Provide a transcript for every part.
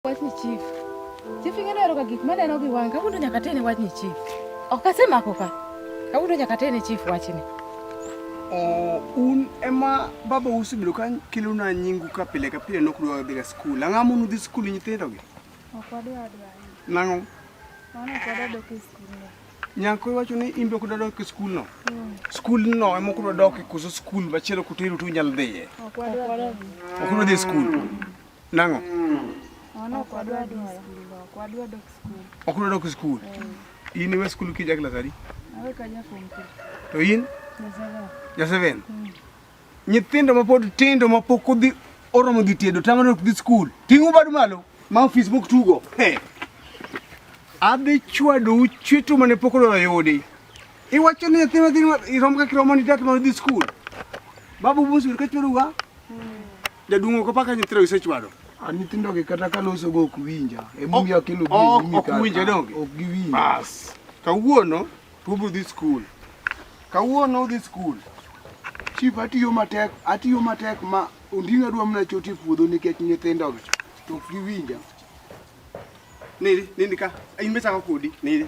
Wachni chief. Chief ing'e nero ka gik maneno gi wanga kawuono nyaka tene wachni chief. Ok asemako ka. Kawuono nyaka tene chief wachni. Oh, un ema baba usebedo ka kelona nyingu ka pile ka pile nok dwa dhiga skul. Ang'o mono udhi skul nyithindogi? Ok wadwa adwa. Nang'o? Mano ok wadwa dok e skul. Nyako iwacho ni imbe ok dwa dok e skul no? Hmm. Skul no ema ok dwa dok e koso skul machielo kutero tu nyal dhiye? Ok wadwa. Ok wadwa dhi e skul. Nang'o? Ono ok wadwa dhi skul, ok wadwa dok skul. Ok wadwa dok skul. Eh. In iwe skul kija klas adi? Awe ka ja form 3. To in? Ja 7. Ja 7. Hmm. Nyithindo ma pod tindo ma pok odhi oromo dhi tedo tamano ok dhi skul. Ting'u badu malo ma ofis mok tugo. Hey. Adhi chwadu chwetu mane pok odwa yudi. Iwacho ni nyathi ma irom ka kiromo ni dat ma dhi skul. Babu busu ka chwedu ga? Jaduong' ok opaka nyithindo gisechwado. A nyithindo gi kata ka loso go ok winja. E mumi akelo gi oh, mumi ka. Ok winja donge. Ok giwinja. Bas. Kawuono to ubro dhi skul. Kawuono udhi skul. Chief atiyo matek, atiyo matek ma ondinga adwa mana choti e puodho nikech nyithindo gi. To ok giwinja. Nili, nini ka. Ayin bechako kodi. Nili.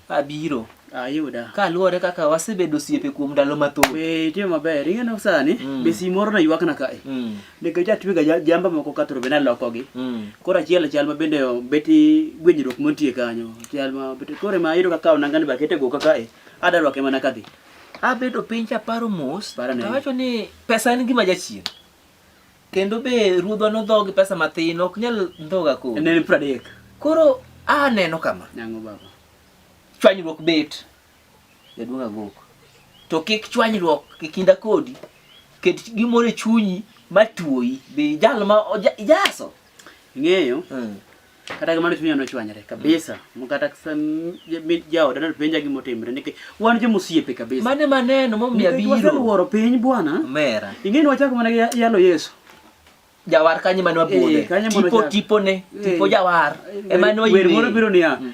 Abiro. Ayuda. Ah, Kaluwore kaka wasebedo osiepe kuom ndalo mathoth. Eh, itimo maber. Ing'eno sani mm. be sim moro naywakna kae. Mm. Nikech atwega jamba moko ka thoro be nalokogi. Mm. Koro achiel achiel ma bende beti gwenyruok montie kanyo. Achiel ma beti kore ma ayudo kaka onangani ba kete goka kae. Adarwake mana kadhi. Abedo piny chaparo mos. Tawacho ni pesa en gima jachien. Kendo be ruodhwa nodhogi pesa mathin, ok nyal ndhoga koro. Ne en pradek. Koro aneno kama. Nang'o baba. Chwanyruok bet. Jaduong' agok. To kik chwanyruok e kinda kodi. Ket gimoro e chunyi matuoyi. Be jal ma ijaso. Ing'eyo? Mm. kata kamano chunya nochwanyre kabisa mkata jaoda napenja gima otimre nikech wan joma osiepe kabisa mane maneno momiyo abiro waseluoro piny bwana mera ing'eni wachako mana gi yalo yesu jawar kanye mane wabudhe eh, tipo tipone eh, tipo jawar eh, ema ne oywer moro biro niya mm.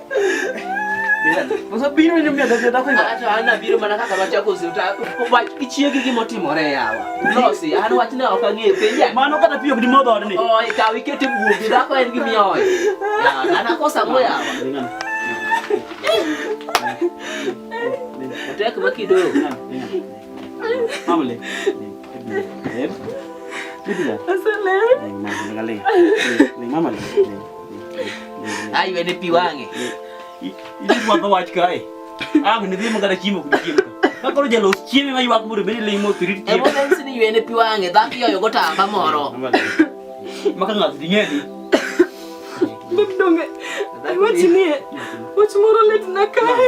Osebiro ni mia dada dako iwa. Acha ana biro mana kaka rwach yako zita. Wach ichiegi gimo timore yawa. Losi an wach ne ok ang'e penja. Mano kata piyo gidi modho ni. Oi ka wikete buogi dako en gimi oi. Ya ana kosa mo yawa. Otek makido. Mamle. kakoro jalos chieme ma ywak mondo bende limo tirit chiemo. Emo nesi ni ywene pi wang'e dhako yoyo go tamba moro. Maka ng'ato di ng'eni. Bib donge. Wach nie. Wach moro lit na kae.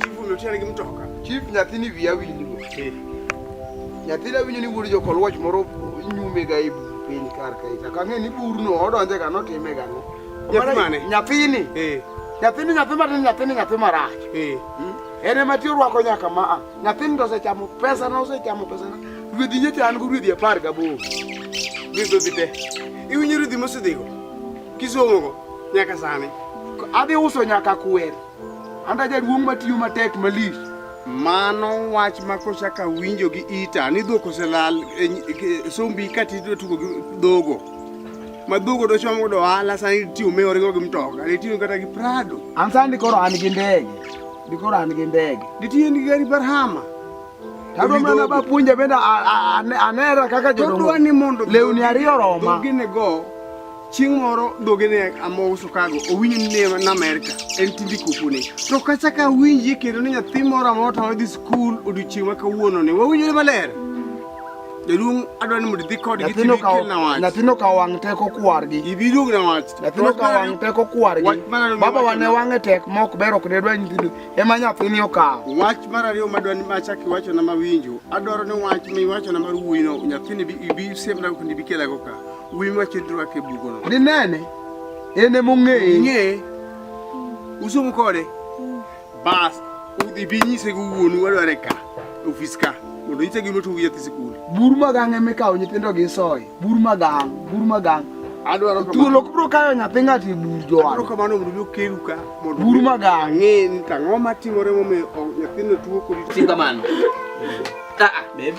chifu notiere gi mtoka chief nyathini wiya winjo nyathina winjo ni wuod jokol wach moro nyume ga ibu piny kar kae to kang'e ni burno odonje ga notime ga no nyathini nyathini nyathi matin nyathini nyathi marach hmm? en ema ti orwako nyaka ma a nyathini to osechamo pesana osechamo pesana rwedhi nyecha an go rwedhi apar gaboro gidhodhi te iwinjo rwedhi mosedhigo kisomogo nyaka sani adhi uso nyaka kwer Anda jaduong' matiyo matek malich. Mano wach ma kochaka winjo gi ita ni dhok oselal e, e, e sombi kati idwa tugo gi dhogo. Ma dhogo dochom godo ohala sani tiyo me origo gi mtoka, itiyo kata gi Prado. An sani koro an gi ndege. Dikoro an gi ndege. Ditiyo gi gari Barhama. Tado mana ba puonja bende anera kaka jodongo. Todwa ni mondo lewni ariyo roma. Gine go Chieng' moro dhoge ne amouso kago, owinjo ni ne na Amerka, en tindi kupune. To kata ka winji kendo ni nyathi moro amoro to odhi skul odiochieng' ma kawuono ni, wawinjore maler. Jaduong' adwa ni mondo idhi kodgi Nyathino tibi kawo kelna wach. nyathino kawo wang' teko kwargi. Ibi duog na wach. Nyathino Wach kawo mar wang' ariyo- teko kwargi. Wach mar ariyo Baba miwacho wane na- wang'e tek ma ok ber ok ne dwa nyithindo. Ema nyathini okawo. Wach mar ariyo madwa ni machak iwacho na mawinjo, adwaro ni wach miwacho na mar wuoyino nyathini ibi- ibi siemna kendo ibi kelago ka. Winy wacho ni rwake bugono. Dinene. Ene mong'eye. Ng'eye. Usomo kode. Bas, udhi bi nyise gi wuonu wadware ka, ofis ka. Mondo nyise gima otugi nyathi sikul. Bur magang' ema ikawo nyithindo gi soy. Bur magang', bur magang'. Adwaro kamano. Thuol ok biro kayo nyathi ng'ato e bur jowadwa. Adwaro kamano mondo mi okeru ka. Mondo bur magang'. Ang'e ni tang'o matimore momiyo nyathino tuo kodi. Tinga mano. Ah, ah, babe.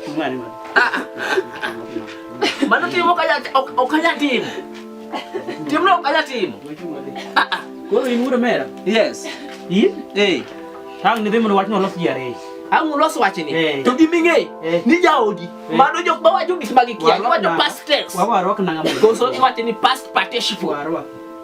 Tumani mano. Ah, ah. Bado timu kaja okaja timu. Timu no kaja timu. Ah ah. Kwa hiyo imura mera. Yes. Yin? Eh. Tang ni demu watno los jare. Ang los wachini. Eh. To giminge. Eh. Ni jaodi. Eh. Mano jok ba wajo gik magi kia. Wajo past tense. Wawarok nanga. Koso iwachini past participle. Wawarok.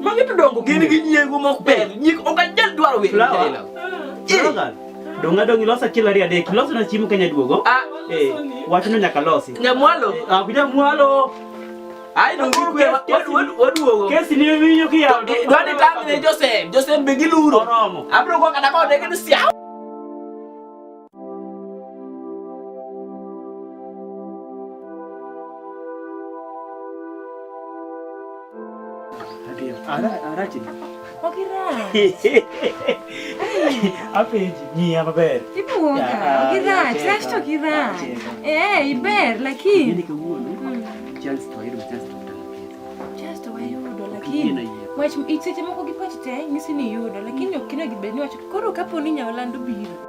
Magi to dongo gin gi nyiego mok ber. Nyik ok anyal dwaro weyo Flower. jela. Flower girl, Donga dongi losa kilo ariyo adek. Loso na chiemo Kenya duogo. Ah, Eh, wachno nyaka losi. nyamwalo. Ah, kuja mwalo. Ai dongi Koro kwe kes- kes- wad- wad- waduogo. Kesi ni winyo ki yawo. Eh, Dwani tang ne Joseph. Joseph be giluro. Oromo. Abro kwa kata kwa dege ni siaw. arache okirache apenji ng'iya maber ibuoga okirache rache to okirache ee iber lakini wach seche moko gipoch te nyisi ni yudo lakini ok kinegi bed ni wacho koro kapo ni nyawalando biro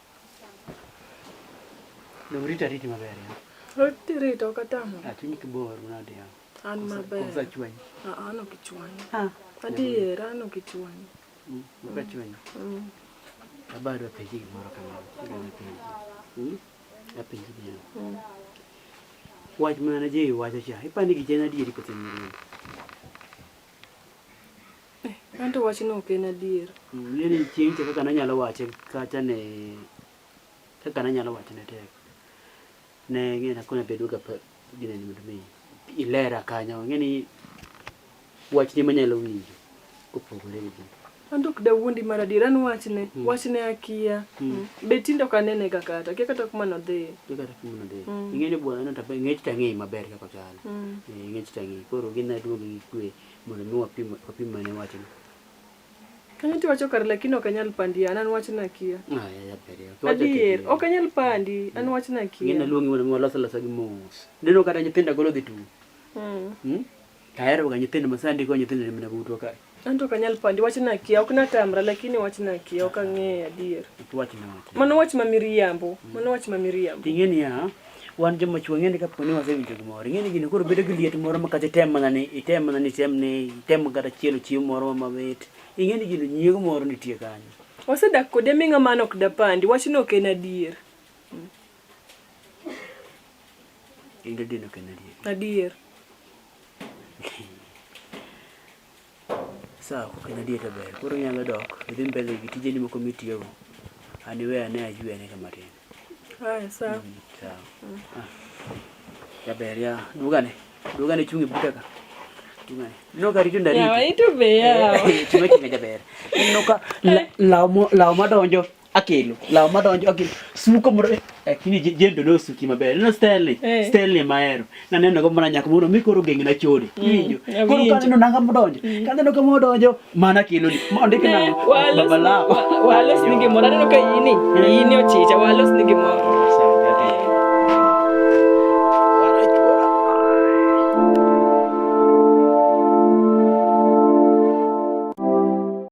Dong rita riti maber ya. Riti rita okatamo. Achunyi kibor mnadi ya. An maber. Kusa chwanyi. Ah, ah ano kichwanyi. Ah. Adiera ano kichwanyi. Mm, Muka chwanyi. Mm. Abado apenji gimoro kamano. Gana penji. Mm. Apenji gimoro. Mm. Wach mana je iwacho cha. Ipani gichena adieri kose nyiri. Anto wachno ok en adier. Ng'e ni chieng' cha kaka nanyalo wache kacha ne kaka nanyalo wache ne tek. Ne ng'e na kona bedo ga gine ni mi ilera kanyo ng'e ni wach ni manyalo winjo kopogore gi gino. Anto ok dawuondi mar adier an wachne mm. wachne akia mm. mm. be tindo ka nene ga kata kia kata kuma nodhi kia kata kuma nodhi mm. ing'e ni bwana no tabe ng'ech tang'e maber kaka chal mm. e, ng'ech tang'e koro gin na duogi gi kwe Mondo mi wapim wapim mane wachno. Kanyo tiwacho kare lakini ok anyal pandi an an wachna akia. Ah, ya ya pere. Adier, ok anyal pandi an wachna akia. Ngina luongi mondo mi walos losa gi mos. Neno kata nyithindo golo dhi tu. Mm. Hmm? Tayari ga nyithindo masandi ko nyithindo ni mna butwa kae. Anto ok anyal pandi wachna akia, ok natamra lakini wachna akia, ok ang'eyo adier. Wachna wachna. Mano wach ma miriambo, mano wach ma miriambo. Ting'eni ya, wan joma chwo ng'e ni kapo ni wasewinjo gimoro ing'e ni gini koro bedo gi liet moro ma kata item mana ni item mana ni item ni item kata chielo chiemo moro ma mamit ing'e ni gino nyiego moro nitie kanyo wasedak kode mi ng'ama an ok dapandi wachno ok en adier in didino ok en adier adier Sawa, kok en adier to ber. Koro inyalo dok, idhi mbele gi tijeni moko mitiyogo. An iwe ane ajue ane kama tin. Haya, sawa. Mm, sawa. Ah. Jaber ya. Dugane. Dugane chungi buta ka. Dugane. No kari chunda rito. Yawa, ito be yawa. Chunga chunga jaber. No ka law mo law madonjo. akelo law madonjo akelo suko moro eh, lakini je- jendo nosuki maber no stanley Eh. stanley mahero naneno go mana nyaka mondo mi koro geng na chode iwinjo awinjo. koro kaneno nanga modonjo kaneno ka modonjo mana kelo ni mondike Ne, nango walos- baba law wa- walos ni gimoro aneno ka ini ini ochicha walos ni gimoro